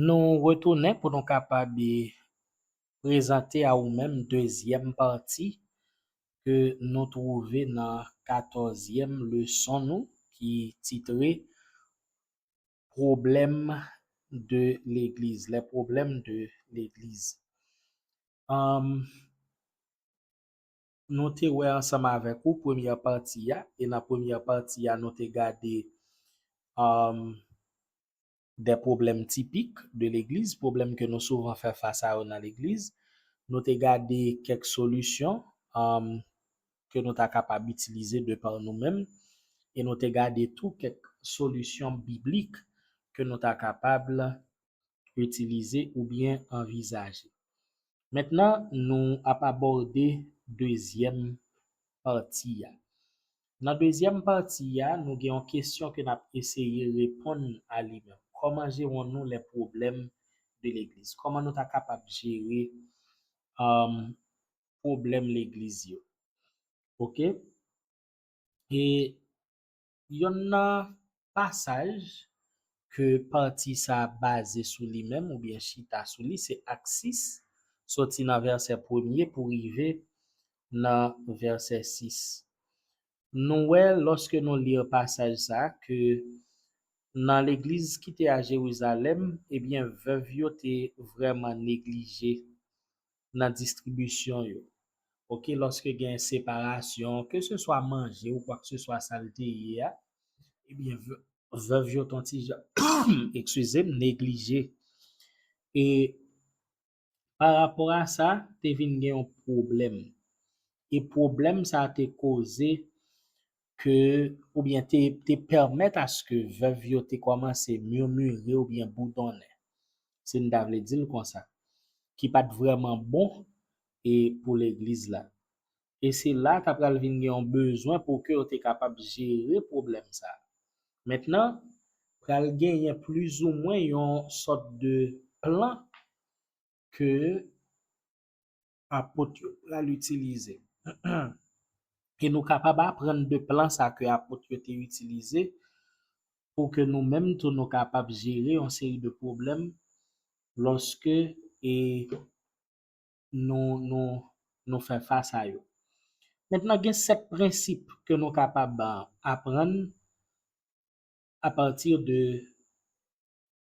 Nou retounen pou nou kapab prezante a ou menm dezyèm pati ke nou twouve nan katòzyèm leson nou ki titre Pwoblèm de legliz, les problèmes de l'église. nou te wè ansanm avèk ou premyè pati a, e nan premyè pati a nou te gade des problèmes typiques de l'Eglise, pwoblèm ke nou souvan fè fas a yo nan legliz, nou te gade kèk solisyon ke nou ta kapab itilize de pa nou menm, e nou te gade tou kèk solisyon biblik ke nou ta kapab itilize oubyen anvizaje. Mentnan nou ap abòde dezyèm pati a. Nan dezyèm pati a, nou gen yon kesyon ke n ap eseye reponn a li menm. Kòman jeron nou les problèmes de l'église? Kòman nou ta kapab jere pwoblèm legliz yo? Ok? E Yonn nan pasaj ke pati sa a baze sou li menm oubyen chita sou li se Ak 6, soti nan vèsè premye pou rive nan vèsè 6. Nou wè lòske nou li pasaj sa a ke nan legliz ki te a Jerizalèm, ebyen vèv yo te vrèman neglije nan distribisyon yo ok lòske gen separasyon ke se swa manje ou kwak se swa sal te ye a ebyen vèv yo ton ti jan eksizem neglije e pa rapò a sa te vin gen yon pwoblèm e pwoblèm sa te koze ke oubyen te te pèmèt aske vèv yo te kòmanse murmurer oubyen boudonnen, si n ta vle di l konsa, ki pa t vrèman bon e pou legliz la. E se la ta pral vin gen yon bezwen pou ke yo te kapab jere pwoblèm sa a. Mentnan, pral genyen plizoumwen yon sòt de plan ke apot yo pral itilize. E nou kapab aprann de plan sa ke apot yo te itilize pou ke nou menm tou nou kapab jere yon seri de pwoblèm lòske e nou nou nou fè fas a yo. Mentnan gen 7 prensip ke nou kapab aprann apati de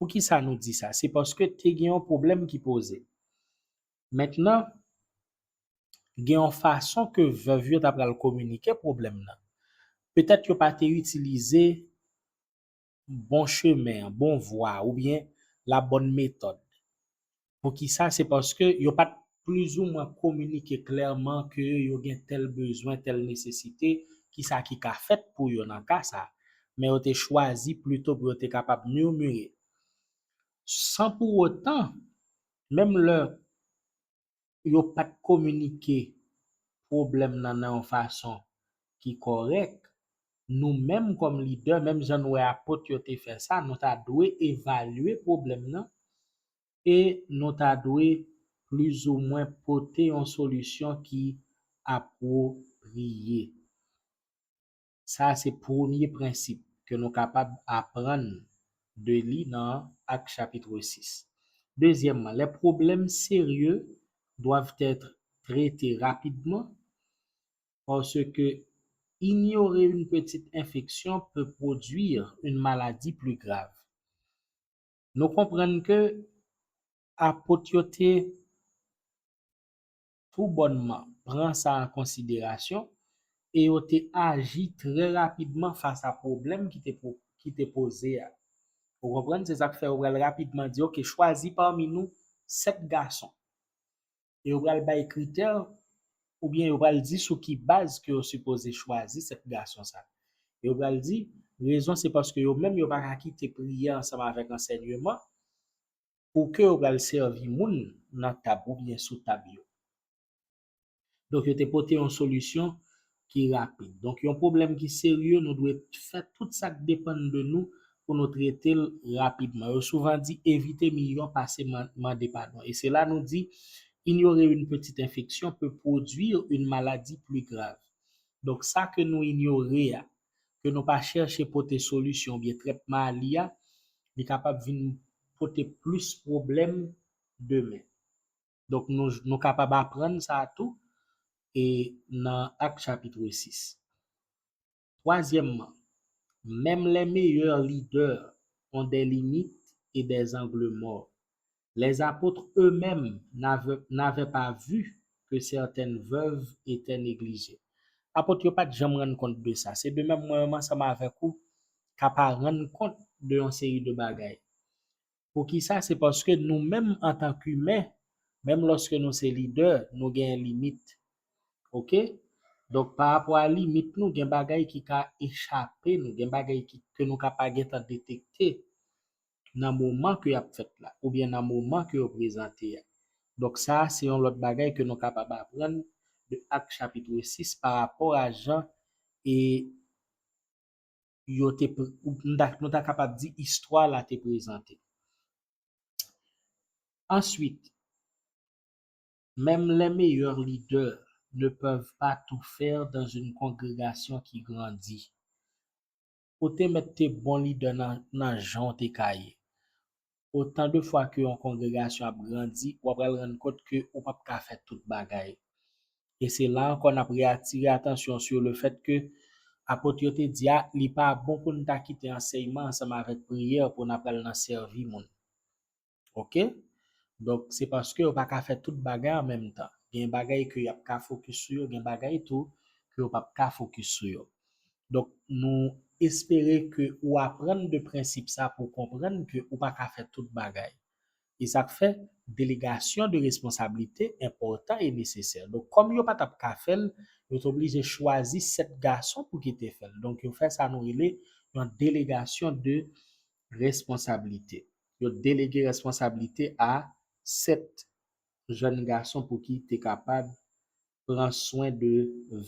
Poukisa nou di sa? Se paske te gen yon pwoblèm ki poze. Mentnan, gen yon fason ke vèv yo ta pral kominike pwoblèm nan. Petèt yo pa te itilize bon chemen an, bon vwa a, oubyen la bòn metòd. Poukisa? Se paske yo pa t plizoumwen kominike klèman ke yo gen tèl bezwen, tèl nesesite, kisa ki ka fèt pou yo nan ka sa a. Men yo te chwazi plito pou yo te kapab murmurer. San pou otan, menm lè yo pa t kominike pwoblèm nan nan yon fason ki kòrèk, nou menm kòm lidè, menm jan nou wè apot yo te fè sa, nou ta dwe evalye pwoblèm nan e nou ta dwe plizoumwen pote yon solisyon ki apwopriye. Sa a se premye prensip ke nou kapab aprann de li nan Acte chapitre 6. Dezyèmman, les problèmes sérieux doivent être traités rapidement parce que ignorer une petite infection peut produire une maladie plus grave. nou konprann ke Apot yo te tou bònman pran sa an konsiderasyon e yo te aji trè rapidman fas a pwoblèm ki te poze a. Ou konprann? Se sa k fè yo pral rapidman di, Ok, chwazi pami nou sèt gason. e yo pral bay kritè oubyen yo pral di sou ki baz ke yo sipoze chwazi 7 gason sa. Yo pral di rezon se paske yo menm yo pa ka kite priyè ansanm avèk ansènyeman pou ke yo pral sèvi moun nan tab oubyen sou tab yo. Donk yo te pote yon solisyon ki rapid. Donk yon pwoblèm ki serye nou dwe fè tout sa k depann de nou pou nou trete l rapidman. Yo souvan di evite miyò pase mande padon e se la nou di ignorer une petite infection peut produire une maladie plus grave. Donk sa ke nou inyore a, ke nou pa chèche pote solisyon oubyen trètman a li a, li kapab vin pote plis pwoblèm demen. Donk nou kapab aprann sa tou e nan Ak chapitre 6. Twazyèmman, menm les meilleurs leaders ont des limites et des angles morts. Les apôtres eux-mêmes n'avaient pas vu que certaines veuves étaient négligées. Apot yo pa t janm rann kont de sa. Se de menm mwen menm ansanm avèk ou ka pa rann kont de yon seri de bagay. Poukisa? Se paske nou menm antan k imen, menm lòske nou se lidè, nou gen limit. Ok? Donk pa rapò a limit nou, gen bagay ki ka echape nou, gen bagay ki ke nou ka pa gen tan detekte nan moman ke y ap fèt la, oubyen nan moman ke yo prezante a. Donk sa a se yon lòt bagay ke nou kapab aprann de Acte chapitre 6 pa rapò a jan e. yo te, nou ta kapab di istwa la te prezante. Answit, Menm les meilleurs leaders ne peuvent pas tout faire dans une congregation qui grandit. Ou te mèt te bon lidè nan jan w te ka ye. Otan de fwa ke yon kongregasyon ap grandi, ou apral rann kont ke ou pap ka fè tout bagay. E se la ankò n ap reatire atansyon sou le fèt ke Apot yo te di a, li pa bon pou n ta kite ansèyman ansanm avèk priyè pou n apral nan sèvi moun. Ok? Donk, se paske yo pa ka fè tout bagay an menm tan. Gen bagay ke y ap ka fokis sou yo, gen bagay tou ke yo pap ka fokis sou yo. Donk nou espere ke ou aprann de prensip sa pou w konprann ke ou pa ka fè tout bagay. E sa k fè, delegasyon de responsablite enpòtan e nesesè. Donk kòm yo pa t ap ka fè l, yo te oblije chwazi 7 gason pou ki te fè l. Donk yo fè sa nou rele yon delegasyon de responsablite. Yo delege responsablite a 7 jèn gason pou ki te kapab pran swen de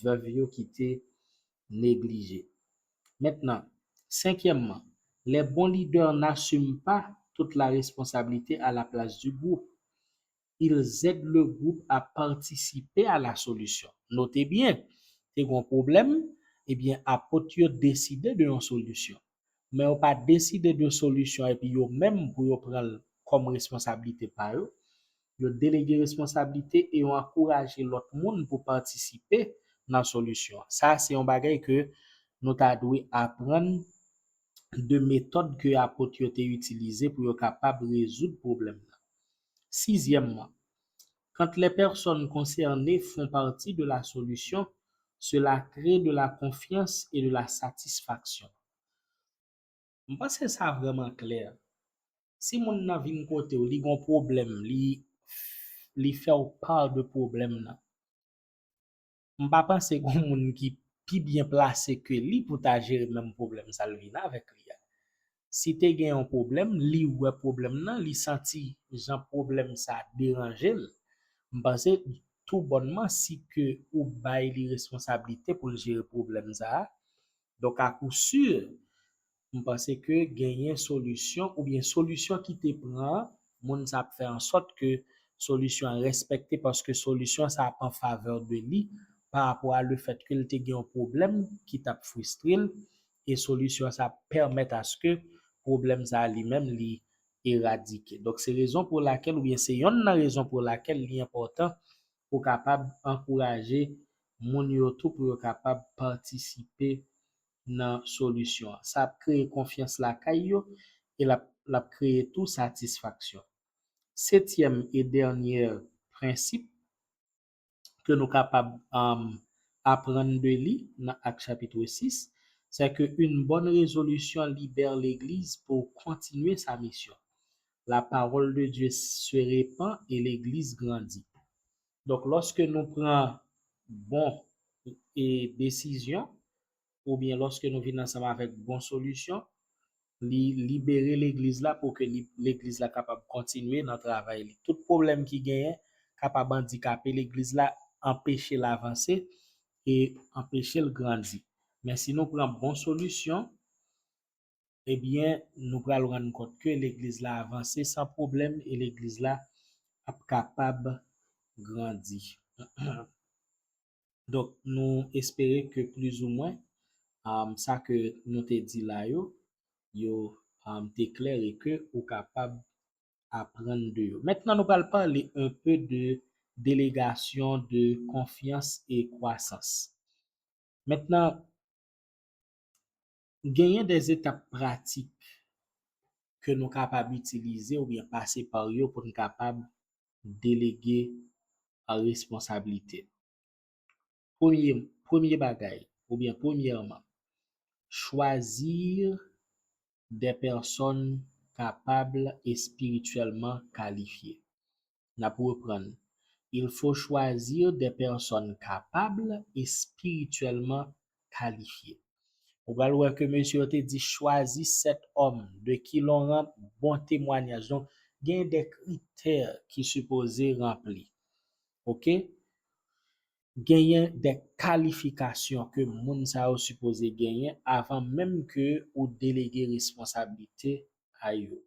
vèv yo ki te neglije. Mentnan, senkyèmman, les bons leaders n'assument pas toute la responsabilité à la place du groupe. Ils aident le groupe à participer à la solution. Note byen, te gen yon pwoblèm, ebyen apot yo deside de yon solisyon. men yo pa deside de solisyon epi yo menm pou yo pran l kòm responsablite pa yo, yo delege responsablite e yo ankouraje lòt moun pou patisipe nan solisyon an. Sa a se yon bagay ke nou ta dwe aprann de metòd ke Apot yo te itilize pou yo kapab rezoud pwoblèm nan. Sizyèmman, Quand les personnes concernées font partie de la solution, cela crée de la confiance et de la satisfaction. M panse sa vrèman klè. Si moun nan vin kote w, li gen yon pwoblèm, li fè w part de pwoblèm nan. m pa panse gon moun ki pi byen plase ke li pou ta jere menm pwoblèm sa l vin avèk li a. Si te gen yon pwoblèm, li wè pwoblèm nan, li santi jan pwoblèm sa deranje l, m panse tou bònman si ke ou bay li responsablite pou l jere pwoblèm sa a, donk a kou si, M panse ke genyen solisyon oubyen solisyon ki te pran moun sa ap fè ansòt ke solisyon an respekte paske solisyon sa ap an favè de li pa rapò a le fèt ke l te gen yon pwoblèm ki t ap fristre l e solisyon sa ap pèmèt aske pwoblèm sa a li menm li eradike. Donk se rezon pou lakèl oubyen se yonn nan rezon pou lakèl li enpòtan pou w kapab ankouraje moun yo tou pou yo kapab patisipe nan solisyon an. Sa ap kreye konfyans lakay yo e l ap kreye tou satisfaksyon. Setyèm e dènyè prensip ke nou kapab aprann de li nan Acte chapitre 6, sè ke une bonne résolution libère l'Église pour continuer sa mission. La parole de Dieu se répand et l'Église grandit. Donk lòske nou pran bon e desizyon oubyen lòske nou vin ansanm avèk bon solisyon, li libere legliz la pou ke li legliz la kapab kontinye nan travay li. Tout pwoblèm ki genyen kapab andikape legliz la, anpeche l avanse e anpeche l grandi. Men si nou pran bon solisyon, ebyen nou pral rann kont ke legliz la avanse san pwoblèm e legliz la ap kapab grandi. Donk nou espere ke plizoumwen sa ke nou te di la yo, yo te klè e ke ou kapab aprann de yo. Mentnan nou pral pale enpe de delegasyon de konfyans e kwasans. Mentnan, Genyen de etap pratik ke nou kapab itilize oubyen pase pa yo pou n kapab delege responsablite. Premye, premye bagay oubyen premyèman, chwazi de pèsòn kapab espirityèlman kalifye. N ap reprann, Il faut choisir des personnes capables et spirituellement qualifiées. Ou pral wè ke mesye yo te di chwazi sèt òm de ki lon ran, bon temwanyaj. Donk, gen de kritè ki sipoze ranpli. Ok? Genyen de kalifikasyon ke moun sa yo sipoze genyen avan menm ke ou delege responsabilite a yo.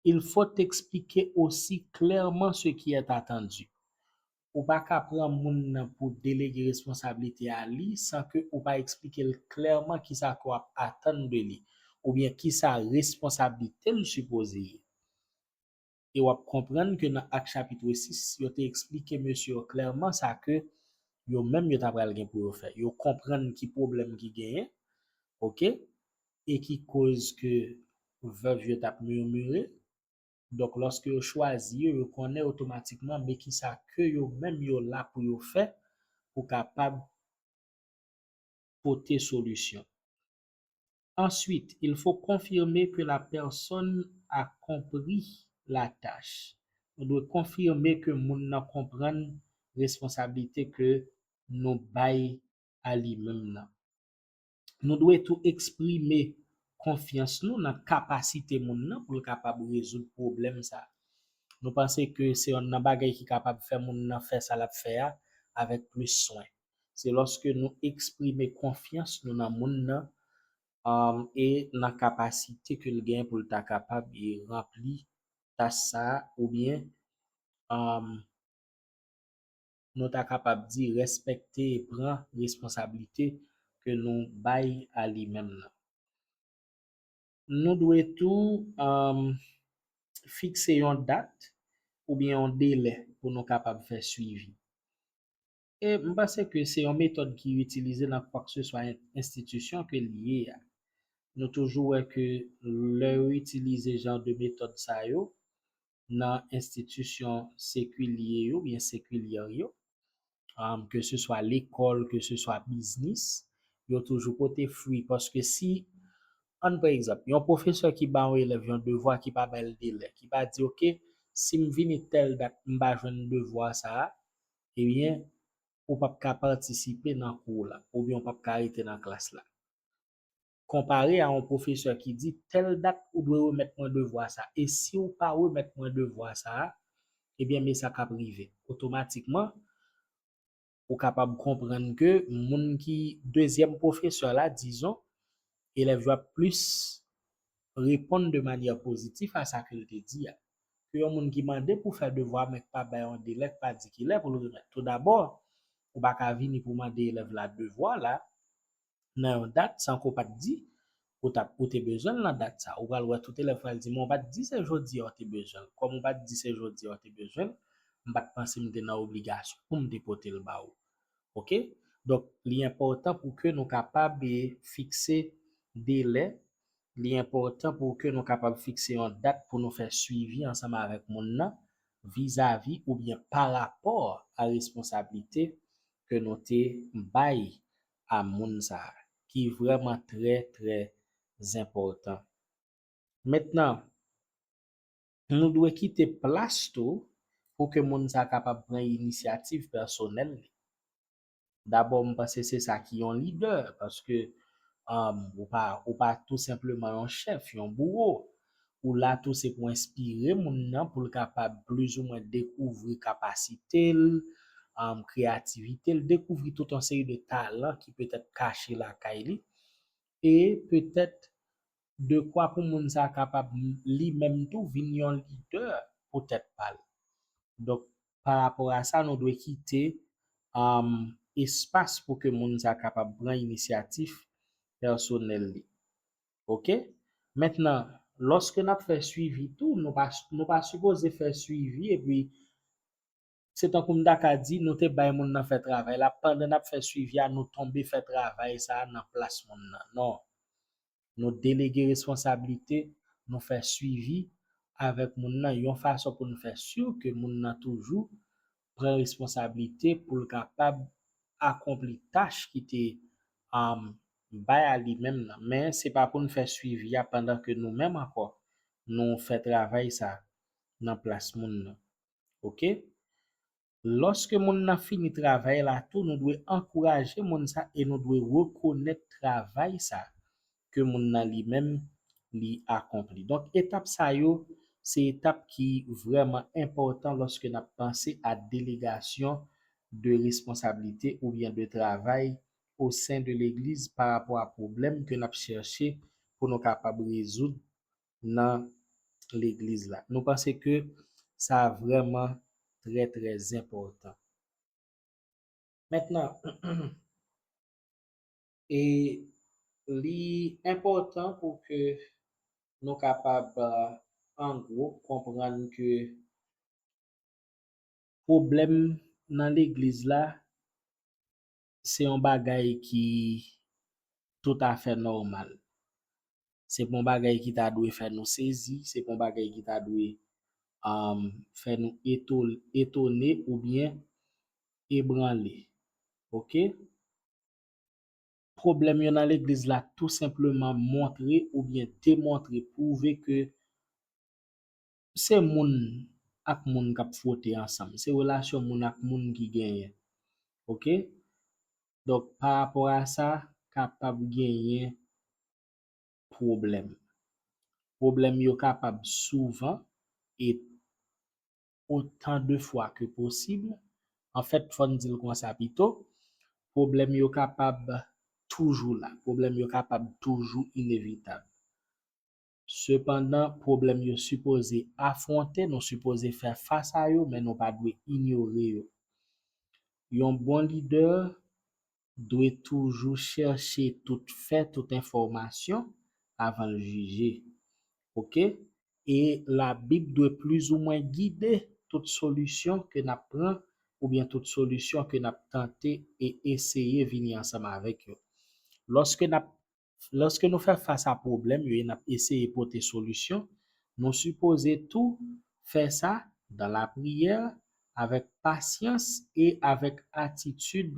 il faut expliquer aussi clairement ce qui est attendu. Ou pa ka pran moun nan pou delege responsabilite a li san ke ou pa eksplike l klèman kisa ke w ap atann de li oubyen kisa responsablite l sipoze ye. E w ap konprann ke nan Actes chapitre 6, yo te eksplike mesye yo klèman sa ke yo menm yo ta pral gen pou yo fè. Yo konprann ki pwoblèm ki genyen, ok, e ki koz ke vèv yo tap murmure, donk lòske yo chwazi yo, yo konnen otomatikman me kisa ke yo menm yo la pou yo fè pou kapab pote solisyon. Ensuite, il faut confirmer que la personne a compris la tâche, nou dwe konfime ke moun nan konprann responsablite ke nou bay a li menm nan. Nou dwe tou eksprime konfyans nou nan kapasite moun nan pou l kapab rezoud pwoblèm sa a. Nou panse ke se yonn nan bagay ki kapab fè moun nan fè sa l ap fè a avèk plis swen. Se lòske nou eksprime konfyans nou nan moun nan e nan kapasite ke l gen pou l ta kapab ranpli tach sa a oubyen nou ta kapab di respekte e pran responsablite ke nou bay a li menm nan. Nou dwe tou fikse yon dat oubyen yon delè pou nou kapab fè swivi. E m panse ke se yon metòd ki itilize nan kwakseswa enstitisyon ke li ye a. Nou toujou wè ke lè yo itilize jan de metòd sa yo, nan enstitisyon sekilye yo oubyen sekilyè yo, ke se swa lekòl, ke se swa biznis, yo toujou pote fwi paske si, ann pran egzanp, yon pwofesè ki ba yon elèv yon devwa ki pa ba l delè, ki pa di ok, si m vini tèl dat m pa jwenn devwa sa a, ebyen ou p ap ka patisipe nan kou w la oubyen ou p ap ka rete nan klas la. konpare a yon pwofesè ki di tèl dat ou dwe remèt mwen devwa sa e si w pa remèt mwen devwa sa a ebyen me sa k ap rive otomatikman ou kapab konprann ke moun ki dezyèm pwofesè la dizon elèv yo ap plis reponn de manyè pozitif a sa ke l te di a ke yon moun ki mande pou fè devwa men k pa bay yon delè k pa di kilè pou l remèt toudabò ou pa ka vini pou mande elèv la devwa la nan yon dat san ke w pa t di ou t ap ou te bezwen l nan dat sa a. Ou pral wè tout elèv pral di men w pa t di se jodi a w te bezwen l. Kòm ou pa t di se jodi a w te bezwen l, m pa t panse m te nan obligasyon pou m te pote l ba ou. Ok? Donk, li enpòtan pou ke nou kapab fikse delè, li enpòtan pou ke nou kapab fikse yon dat pou nou fè suivi ansanm avèk moun nan vizavi oubyen parapò a responsablite ke nou te bay a moun sa a ki vrèman trè trè zenpòtan. Mentnan, nou dwe kite plas tou pou ke moun sa a kapab pran inisyativ pèsonèl li. Dabò m panse se sa ki yon lidè paske ou pa tou senpleman yon chèf, yon bouwo. Ou la tou se pou enspire moun nan pou l kapab plizoumwen dekouvri kapasite l, kreyativite l, dekouvri tout yon seri de talan ki petèt kache lakay li e petèt dekwa pou moun sa a kapab li menm tou vin yon lidè pou tèt pa l. Donk, pa rapò a sa nou dwe kite espas pou ke moun sa a kapab pran inisyatif pèsonèl li. ok mentnan loske nap fè swivi tou nou pa nou pa sipoze fè swivi epi se tankou m ta ka di nou te bay moun nan fè travay la pandan nap fè swivi a nou tonbe fè travay sa nan plas moun nan non nou delege responsablite nou fè swivi avèk moun nan yon fason pou nou fè sur ke moun nan toujou pran responsablite pou l kapab akonpli tach ki te bay a li menm nan. Men, se pa pou n fè suivi a pandan ke nou menm ankò nou fè travay sa nan plas moun nan. Ok? Lòske moun nan fini travay la tou, nou dwe ankouraje moun sa e nou dwe rekonèt travay sa ke moun nan li menm li akonpli. Donk etap sa yo se etap ki vrèman enpòtan lòske n ap panse a delegasyon de responsablite oubyen de travay osen de legliz pa rapò a pwoblèm ke n ap chèche pou nou kapab rezoud nan legliz la. Nou panse ke sa vrèman trè trè zenpòtan. Mentnan, E li enpòtan pou ke nou kapab an gwo konprann ke pwoblèm nan legliz la se yon bagay ki toutafè nòmal. Se pa yon bagay ki ta dwe fè nou sezi, se pa yon bagay ki ta dwe fè nou etone oubyen ebranle. Ok. Pwoblèm yo nan legliz la tou senpleman montre oubyen demontre, pwouve ke se moun ak moun k ap fwote ansanm, se relasyon moun ak moun ki genyen. Ok. Donk parapò a sa, kapab genyen pwoblèm. Pwoblèm yo kapab souvan e otan de fwa ke posib, anfèt fò n di l konsa pito, pwoblèm yo kapab toujou la, pwoblèm yo kapab toujou inevitab. Sepandan, pwoblèm yo sipoze afwonte, nou sipoze fè fas a yo men nou pa dwe inyore yo. Yon bon lidè dwe toujou chèche tout fè, tout enfòmasyon avan l jije. Ok. E Labib dwe plizoumwen gide tout solisyon ke n ap pran oubyen tout solisyon ke n ap tante e eseye vini ansanm avèk yo. Lòske n ap Lòske nou fè fas a pwoblèm yo e n ap eseye pote solisyon, nou sipoze tou fè sa dan lapriyè, avèk pasyans e avèk atitid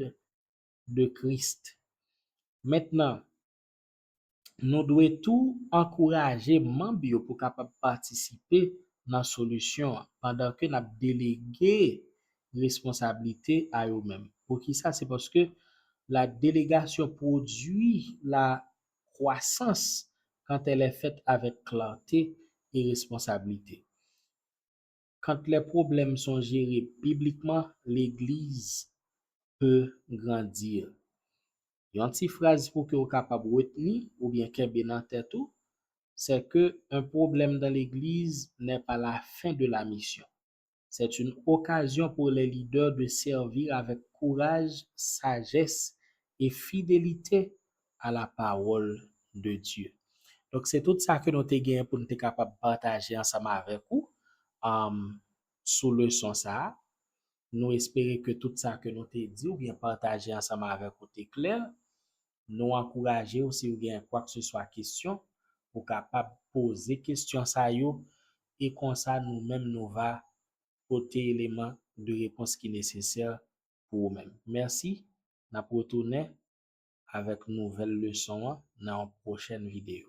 de Krist. Mentnan, nou dwe tou ankouraje manb yo pou kapab patisipe nan solisyon an, pandanke n ap delege responsablite a yo menm. Poukisa? Se paske la delegasyon pwodui la kwasans quand elle est faite avec clarté et responsabilité. Quand les problèmes sont gérés bibliquement, l'église peut grandir. Yon ti fraz pou ke ou kapab retni oubyen kenbe nan tèt ou, c'est que un problème dans l'église n'est pas la fin de la mission. C'est une occasion pour les leaders de servir avec courage, sagesse et fidélité à la parole de Dieu. Donk se tout sa ke nou te genyen pou nou te kapab pataje ansanm avèk ou sou leson sa a. Nou espere ke tout sa ke nou te di oubyen pataje ansanm avèk ou te klè Nou ankouraje w si w gen kwakseswa kesyon, ou kapab poze kesyon sa yo e konsa nou menm nou va pote eleman de repons ki nesesè pou ou menm. Mèsi, n ap retounen avèk nouvèl leson an nan yon pwochèn videyo.